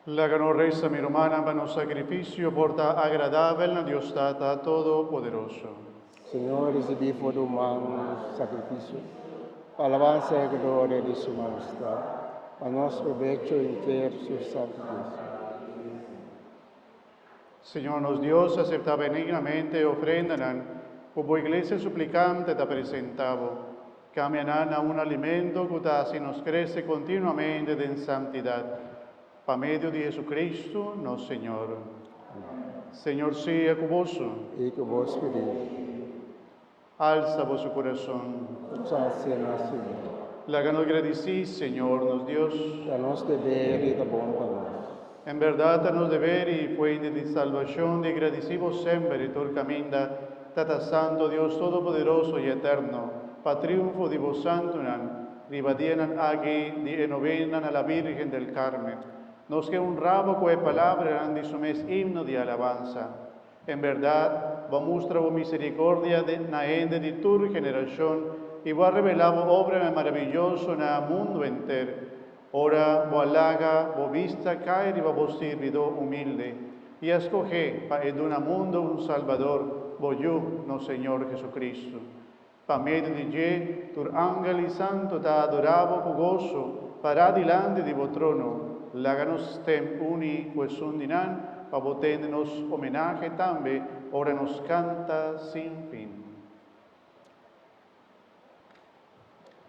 Laga nos resa, mi rumannan, pa nos sakrifisio por ta agradabel na Dios Tata Todopoderoso. Señor, risibí for di bo man nos sakrifisio, pa alabansa i gloria di su majestad, pa nos probecho i nter su santu Dios. Señor nos Dios, acepta benignamente e ofrendanan cu bo iglesia suplicante ta presenta bo. Cambia nan na un alimento cu ta haci nos crece continuamente den santidad. Pa medio di Jesucristo, nos Señor. Amen. Señor, sea cu boso. I cu bo spiritu. Alsa boso kurason. Utsasia na Señor. Laga nos gradisí Señor nos Dios. Ta nos deber i ta bon pa nos. En berdad ta nos deber i fuenti di salbashon di gradisí Bo semper i tur kaminda, Tata Santo, Dios Todopoderoso i Eterno, pa triunfo di Bo santunan riba dianan aki di e novena na la Bírgen del Carmen. Nos ke hunrá Bo ku e palabranan di Su mes himno di alabansa. En berdad, bo a mustra bo misericordia na hende di tur generacion, i bo a revela bo obranan marabiyoso na mundu enter, ora bo a laga bo bista cay riba bo sirbidó humilde, i a scoge pa e duna mundu un Salbador, bo Yu, nos Señor Jesucristo. Pa medio di dje, tur angel i santu ta adorá bo ku goso, pará dilanti di bo trono. Laga nos stèm uni ku esun di nan pa bo tende nos omenahe tambe ora nos kanta sin fin.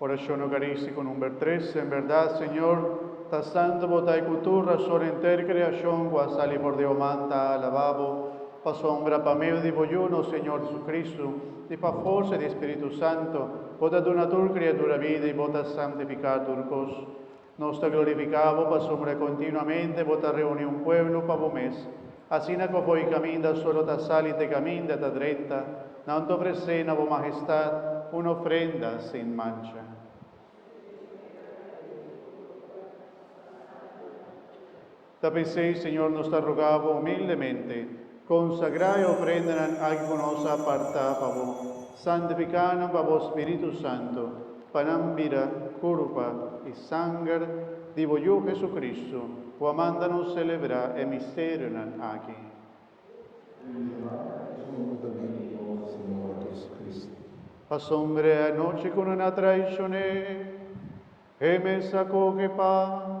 Orashon Eukaristiko number tres, En berdad, Señor, ta santu Bo ta e ku tur rason enter kreashon ku a sali for di Bo man ta alabá Bo. Pasobra pa medio di bo Yu, nos Señor Jesucristo, i pa forsa di e Spiritu Santu, bo ta duna tur kriatur a bida i bo ta santifiká tur kos. Nos ta glorifiká bo pasobra kontinuamente bo ta reuní un pueblo pa bo mes, asina ku afó e kaminda solo ta sali te kaminda ta drenta, nan ta ofresé na bo Mahestat un ofrenda sin mancha. Ta p'esei, Señor, nos ta rogá Bo humildemente, konsagrá e ofrendanan aki ku nos a apartá pa Bo, santifiká nan pa Bo Spiritu Santu, pa nan bira, kurpa i sanger di Bo Yu Hesukristu, ku a manda nos selebrá e misterionan aki. Pasombre e anochi ku nan a traishoné, e mes a koke pan.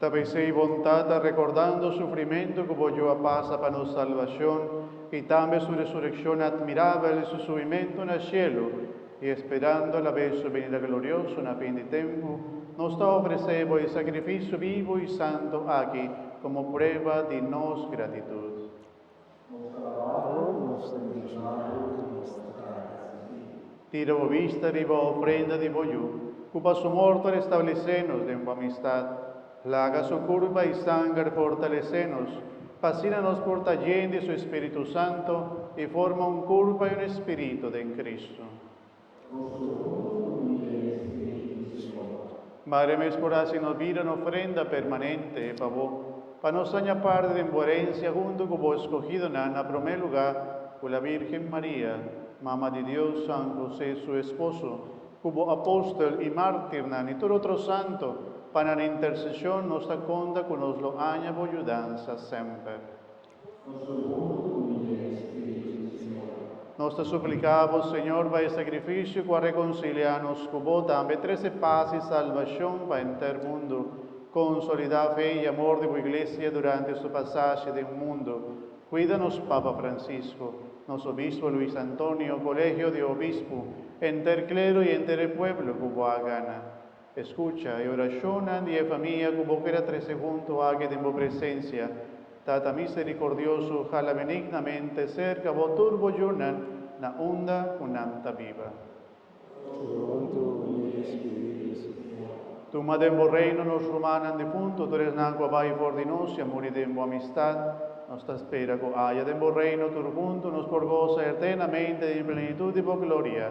Ta bisei bon Tata, rekordando sufrimentu ku Boyu a pasa pa nos salbashon i tambe su resurekshon atmirabel i su subimentu na shelu, i esperando alabes su binida glorioso na fin di tempu, nos ta ofresé bo e sakrifisio bibu i santu aki komo prueba di nos gratitut. Nos trabao, nos trabao i nos trata di vivi. Tira bo bista riba ofrenda di bo yu, ku pa su mor ta restablesé nos den bo amistat. Plaga su kurpa i sanger fortalesé nos, pa asina nos por ta yen di su Espíritu Santu i forma un kurpa i un espiritu den Kristu. Madre mes por hasi nos bida un ofrenda permanente e fabó, pa nos haña parti den bo erensia huntu ku bo eskogidonan, na promé lugá ku la Bírgen Maria, Mama di Dios, San Hosé su esposo, ku bo apòstel i mártirnan i tur otro santu, pa nan interseshon nos ta konta ku nos lo haña bo yudansa semper. Nos ta supliká Bo, Señor, pa e sakrifisio ku a rekonsiliá nos ku Bo tambe trese pas i salbashon pa henter mundu. Konsolidá fe i amor di Bo Iglesia durante su pasashe den mundu. Kuida nos Papa Francisco, nos Obispo Luis Antonio, Kolegio di Obispu, henter klero i henter e pueblo ku Bo a gana. Escucha e oracionnan di e famia cu bo keda trece hunto aki den bo presencia. Tata misericordioso, hala benignamente cerca bo tur bo djunnan na unda cu nan ta biba. Toronto, Holy Spirit di Señor. Tuma den bo Reino nos rumannan difunto, tur esnan cu a bay for di nos y a muri den bo amistad. Nos ta spera cu aya den bo Reino tur hunto nos por goza eternamente den e plenitud di bo gloria.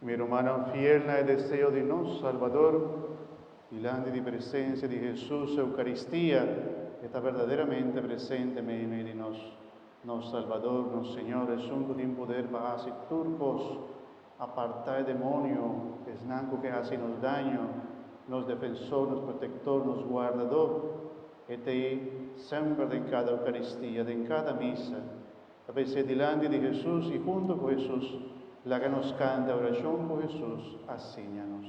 Mi rumannan fiel na e deseo di nos Salbador, dilanti di presensia di Hesus Eukaristia, e ta berdaderamente presente meimei di nos. Nos Salbador, nos Señor, Esun ku tin puder pa hasi tur kos, a partá e demonio, esnan ku ke hasi nos daño, nos Defensor, nos Protektor, nos Guardador. E ta ei semper den kada Eukaristia, den kada misa. Ta p'esei dilanti di Hesus i huntu ku Hesus, laga nos kanta orashon ku Hesus a siña nos.